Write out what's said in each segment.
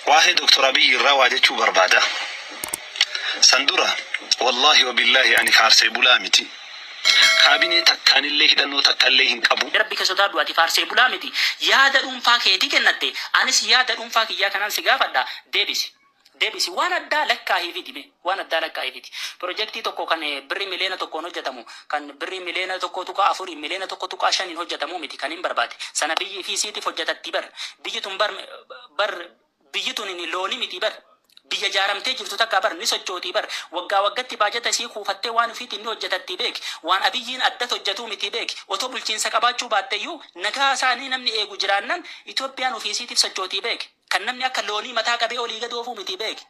Waahee Doktor Abiyyi irraa waa jechuu barbaada. San dura Wallaahi Wabillaahi ani faarsee bulaa miti. Kaabinee takkaanillee hidhannoo takkallee hin qabu. Rabbi kee sodaadhu ati faarsee bulaa miti. Yaada dhuunfaa keetii kennatte. Anis yaada dhuunfaa kiyyaa kanaan si gaafadha. Deebisi. Deebisi. Waan addaa lakkaahiifii ti mee. waan addaa lakkaa'eefiti. Pirojektii tokko kan Birrii miliyoona tokkoon hojjatamu, kan Birrii miliyoona 1.4n, miliyoona 1.5n hojjatamuu miti kan hin barbaade. Sana biyyi ifii isiitif hojjatattii bar. Biyyi tun bar bar biyyi tunini looni mitii bar. Biyya jaaramtee jirtu takka bar ni sochootii bar. Waggaa waggatti baajata isii kuufattee waan ufiitiin ni hojjatattii beeki. Waan Abiyyiin addat hojjatuu mitii beeki. Otoo bulchiinsa qabaachuu baatteyyuu nagaa isaanii namni eegu jiraannan Itoophiyaan ufii isiitif sochootii beeki. Kan namni akka loonii mataa qabee olii gad oofuu mitii beeki.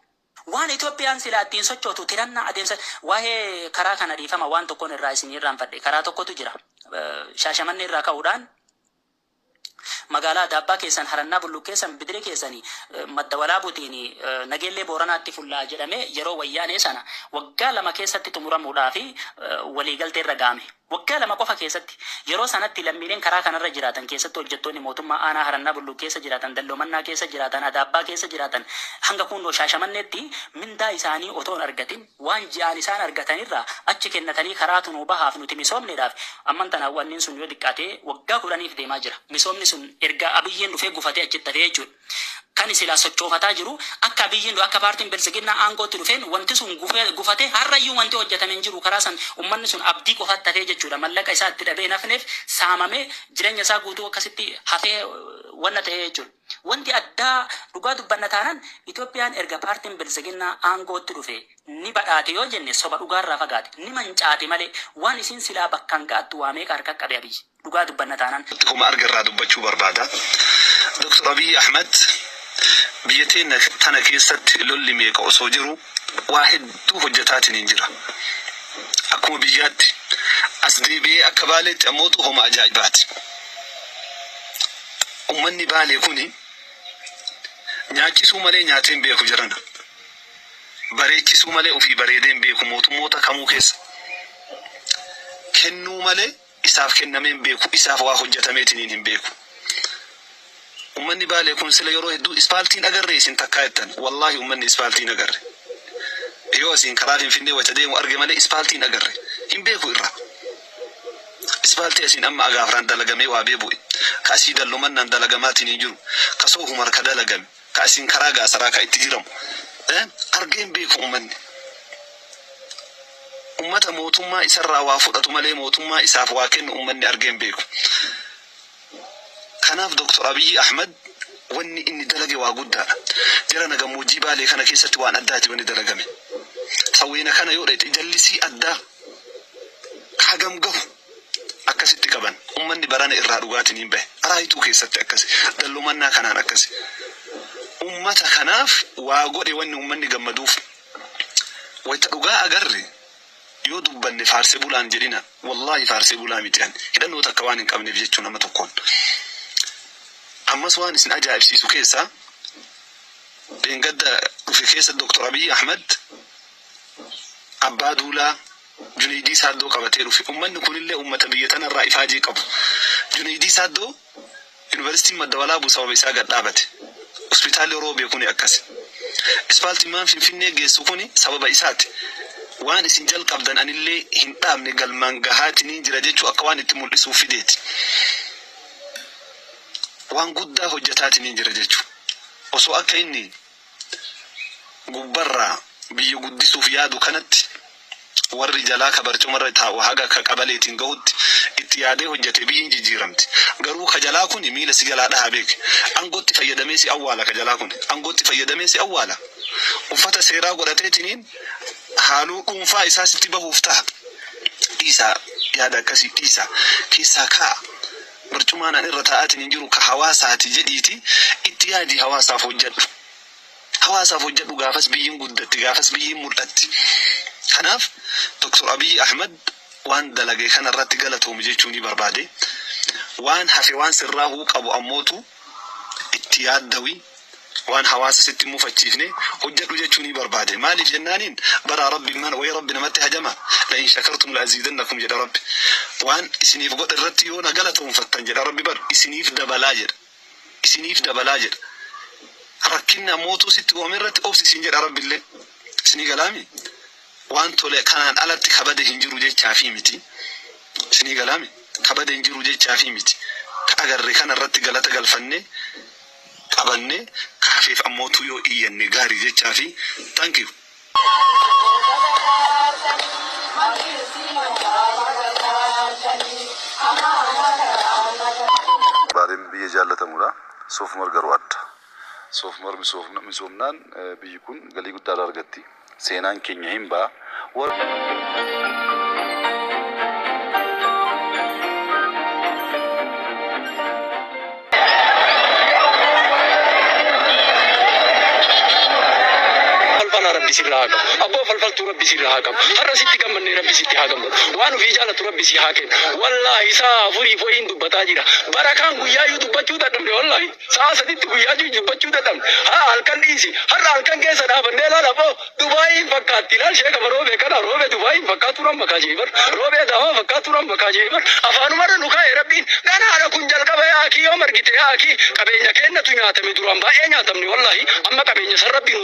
Waan Itoophiyaan silaa ittiin sochootu tirannaa adeemsa Waa'ee karaa kana dhiifama waan tokkon irraa isin irraanfadhe. Karaa tokkotu jira. Shaashamannee irraa ka'uudhaan Magaalaa Adaabbaa keessan, Harannaa Bulluqqeessan, Bidire keessan, Madda Walaabutiin Nageellee Booranaatti fulla'a jedhamee yeroo Wayyaanee sana waggaa lama keessatti xumuramuudhaafi waliigalteerra ga'ame. Waggaa lama qofa keessatti. Yeroo sanatti lammiileen karaa kanarra jiraatan, keessattuu hojjettoonni mootummaa aanaa Harannaa Bulluq keessa jiraatan, Dalloo Mannaa keessa jiraatan, Adaabbaa keessa jiraatan hanga Kuunnoo Shaashamanneetti mindaa isaanii otoo hin argatin waan ji'aan isaan argatanirraa achi kennatanii karaatu nuu bahaaf nuti misoomneedhaaf amman tana wannin sun yoo xiqqaate waggaa kudhaniif deemaa jira. Misoomni sun erga Abiyyiin dhufee gufatee achitti hafee jechuudha. Kani silaa sochoofataa jiru akka Abiyyiin du akka paartiin Biltsiginnaa aangootti dhufeen wanti sun gufee gufatee har'ayyuu wanti hojjatame hin jiru karaa san ummanni sun abdii qofatti hafee jechuudha mallaqa isaa itti dhabee hin hafneef saamamee jireenya isaa guutuu akkasitti hafee wanna ta'ee jechuudha wanti addaa dhugaa dubbanna taanaan Itoophiyaan erga paartiin Biltsiginnaa aangootti dhufee ni badhaate yoo jenne soba dhugaarraa fagaate ni mancaate malee waan isiin silaa bakkaan ga'attu waa meeqa harka qabe Abiyyi. Dhugaa dubbanna taanaan. Akkuma arge irraa dubbachuu barbaada. Doktar Abiy Ahmed biyya teenna tana keessatti lolli meeqa osoo jiru waa hedduu hojjataatiniin jira. Akkuma biyyaatti. As deebi'ee akka Baaleetti ammootu homa ajaa'ibaati. Ummanni Baalee kuni nyaachisuu malee nyaatee hin beeku jarana. Bareechisuu malee ufii bareedee hin beeku mootummoota kamuu keessa. Kennuu malee. isaaf kennamee hin beeku, isaaf waa hojjatameetiniin hin beeku. Ummanni Baalee kun sila yeroo hedduu ispaaltii hin agarree isin takkaa jettan. Wallaahi ummanni ispaaltii hin agarre. Yoo asiin karaa Finfinnee wayita deemu arge malee ispaaltii hin agarre. Hin beeku irra. Ispaaltii asiin amma Agaafraan dalagamee waabee bu'e, ka asii Dallomannaan dalagamaatiniin jiru, ka Soohumar ka dalagame, Ka isin karaa gaasaraa ka itti jiramu argee hin beeku ummanni. Ummata mootummaa isarraa waa fudhatu malee mootummaa isaaf waa kennu ummanni argee hin beeku. Kanaaf Doktor Abiyyi Ahmad wanni inni dalage waa guddaadha. Jarana gammoojjii Baalee kana keessatti waan addaati wanni dalagame. Sawweena kana yoo dhayxe jallisii addaa ka hagam gahu akkasitti qaban. Ummanni barana irraa dhugaatiin hin bahe. Araa ituu keessatti akkasi. Dallomannaa kanaan akkasi. Ummata kanaaf waa godhe wanni ummanni gammaduuf. Wayta dhugaa agarre yoo dubbanne faarse bulaa hin jedhina. Wallaahi faarsee bulaa miti ani. Hidhannoo takka waan hin qabneef jechuu nama tokkoon. Ammas waan isin ajaa'ibsiisu keessaa dheengadda dhufe keessa Doktor Abiy Ahmad Abbaa Duulaa, Juneeydii Saaddoo qabatee dhufe. Ummanni kunillee ummata biyya tanarraa ifaajee qabu. Juneeydii Saaddoo Yunivarsiitiin Madda Walaabuu sababa isaa gad dhaabate. Hospitaalli Oroobee kuni akkasi. Ispaaltiin maan Finfinnee geessu kuni sababa isaati. Waan isin jalqabdan anillee hin dhaabne galmaan gahaatiniin jira jechuu akka waan itti muldhisuuf fideeti. Waan guddaa hojjataatiniin jira jechuu. Osoo akka inni. gubbarraa biyya guddisuuf yaadu kanatti warri jalaa ka barcumarra taa'u haga ka qabaleetiin gahutti itti yaadee hojjate biyyi hin jijjiiramti. Garuu ka jalaa kuni miila si jalaa dhahaa beeki. Angootti fayyadamee si awwaala ka jalaa kuni. Angootti fayyadamee si awwaala. Uffata seeraa godhateetiniin haaloo dhuunfaa isaa sitti bahuuf taha. Dhiisaa yaada akkasii dhiisaa keessaa ka'aa. Barcumaan ani irra taa'aatiin jiru ka hawaasaati jedhiitii itti yaadii hawaasaaf hojjadhu. Hawaasaaf hojjadhu gaafas biyyin guddatti, gaafas biyyin mul'atti. Kanaaf Dr. Abiy Ahmed waan dalage kana irratti galatoomi jechuunii barbaade. Waan hafe waan sirraahuu qabu ammootuu itti yaaddawi waan hawaasa sitti hin mufachiifne hojjadhu jechuunii barbaade maaliif jennaaniin baraa rabbi mana wayii rabbi namatti hajama la in shakartum la aziidannakum jedha rabbi waan isiniif godhe irratti yoo na galatoonfattan jedha rabbi bar isiniif dabalaa jedha isiniif dabalaa jedha rakkinna mootuu sitti uumame irratti obsi siin jedha rabbi illee isinii galaami Waan tole kanaan alatti ka bade hin jiru jechaafii miti. Isinii galaami? Ka bade hin jiru jechaafii miti. Ka agarre kana irratti galata galfannee, qabanne, ka hafeef ammootuu yoo iyyanne gaarii jechaafii. Thank you. Baaleen biyya jaallatamuudha. Soofumar garuu adda. Soofumar misoomnaan biyyi kun galii guddaa irraa argatti. Seenaan keenya hin ba'a Falfalaa rabbi sirra haa qabu. Abboo falfaltuu rabbi sirra haa qabu. Har'a sitti gammannee rabbi sitti haa gammadu. Waan ofii jaalatu rabbi si haa kennu. Wallaahi sa'a afuriif wayiin dubbataa jira. Barakaan guyyaayyuu dubbachuu dadhabne wallaahi. Sa'a sadiitti guyyaa jiru jibbachuu dadhabne. Ha'a halkan dhiisi. Har'a halkan keessa dhaabannee ilaala boo. Dubaayii hin fakkaatti. Ilaal ishee gama Roobee kana. Roobee Dubaayii hin fakkaatuun amma kaa jee bar. Roobee Adaamaa fakkaatuun amma kaa jee bar. Afaanuma irra nu kaa'e Rabbiin. Ganaadha kun jalqaba yaa akii yoom argite yaa akii. Qabeenya keennatu nyaatame duraan baay'ee nyaatamne wallaahi. Amma qabeenya san Rabbi nu.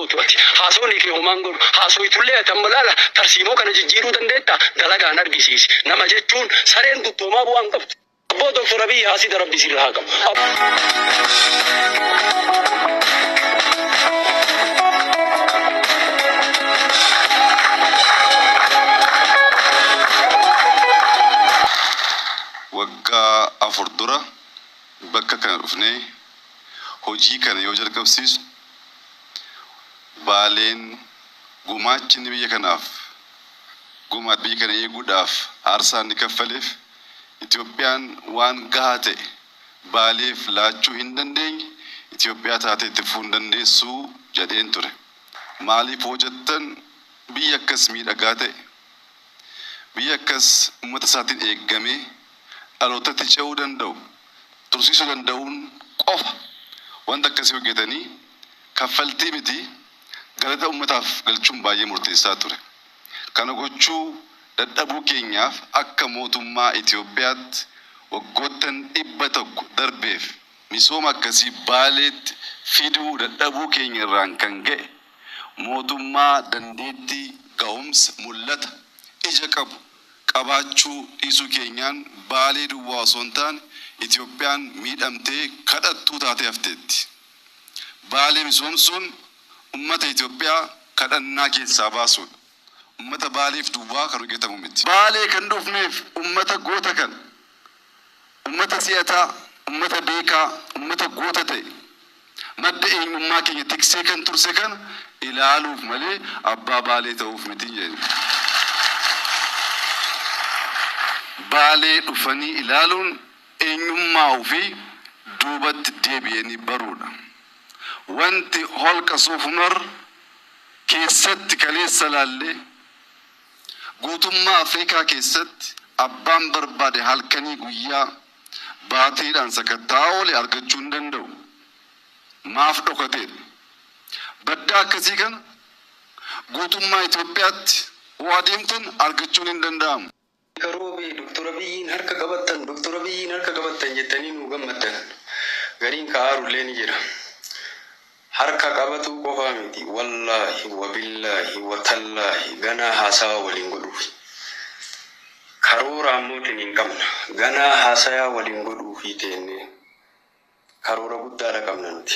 gootu ati. Haasofni kee homaa hin godhu. Haasoytullee ati amma laala tarsiimoo kana jijjiiruu dandeettaa? Dalagaan argisiisi. Nama jechuun sareen duttu homaa bu'aa hin qabdu. Abboo Dr Abiy haasida rabbi sirra haa qabu. Abboo. Waggaa afur dura bakka kana dhufnee hojii kana yoo jalqabsiisnu Baaleen gumaachi inni biyya kanaaf gumaat biyya kana eeguudhaaf aarsaa inni kaffaleef Itoophiyaan waan gahaa ta'e Baaleef laachuu hin dandeenye Itoophiyaa taatee itti fufuu hin dandeessu jedheen ture. Maaliif hoo jettan biyya akkas miidhagaa ta'e, biyya akkas ummata isaatiin eeggamee dhalootatti ce'uu danda'u tursiisuu danda'uun qofa wanta akkasii hojjetanii kaffaltii miti galata ummataaf galchuun baay'ee murteessaa ture. Kana gochuu dadhabuu keenyaaf akka mootummaa Itoophiyaatti waggoottan 100 darbeef misooma akkasii Baaleetti fiduu dadhabuu keenya irraan kan ka'e mootummaa dandeettii, gahumsa, mul'ata, ija qabu qabaachuu dhiisuu keenyaan Baalee duwwaa osoo hin taane Itoophiyaan miidhamtee kadhattuu taatee hafteetti. Baalee misoomsuun ummata Itoophiyaa kadhannaa keessaa baasuudha. Ummata Baaleef duwwaa kan hojjetamu miti. Baalee kan dhufneef ummata goota kana Ummata si'ataa, ummata beekaa, ummata goota ta'e, madda eenyummaa keenya tiksee kan turse kana ilaaluuf malee abbaa Baalee ta'uuf miti hin jenne. Baalee dhufanii ilaaluun eenyummaa ofii duubatti deebi'anii baruudha. Wanti Holqa Soofumar keessatti kaleessa ilaalle, Guutummaa Afrikaa keessatti abbaan barbaade halkanii guyyaa baatiidhaan sakatta'aa oole argachuu hin danda'u. Maaf dhokateedha. Baddaa akkasii kana guutummaa Itoophiyaatti hoo adeemtan argachuun hin danda'amu. Akka Roobee Doktor Abiyyiin harka qabattan, Doktor Abiyyiin harka qabattan jettanii nuu gammaddan gariin ka aaru illee ni jira. Harka qabatuu qofaa miti wallaahi wabillaahi watallaahi ganaa haasawa waliin godhuufi karoora ammoo tiniin qabna ganaa haasayaa waliin godhuufii teennee karoora guddaadha qabna nuti.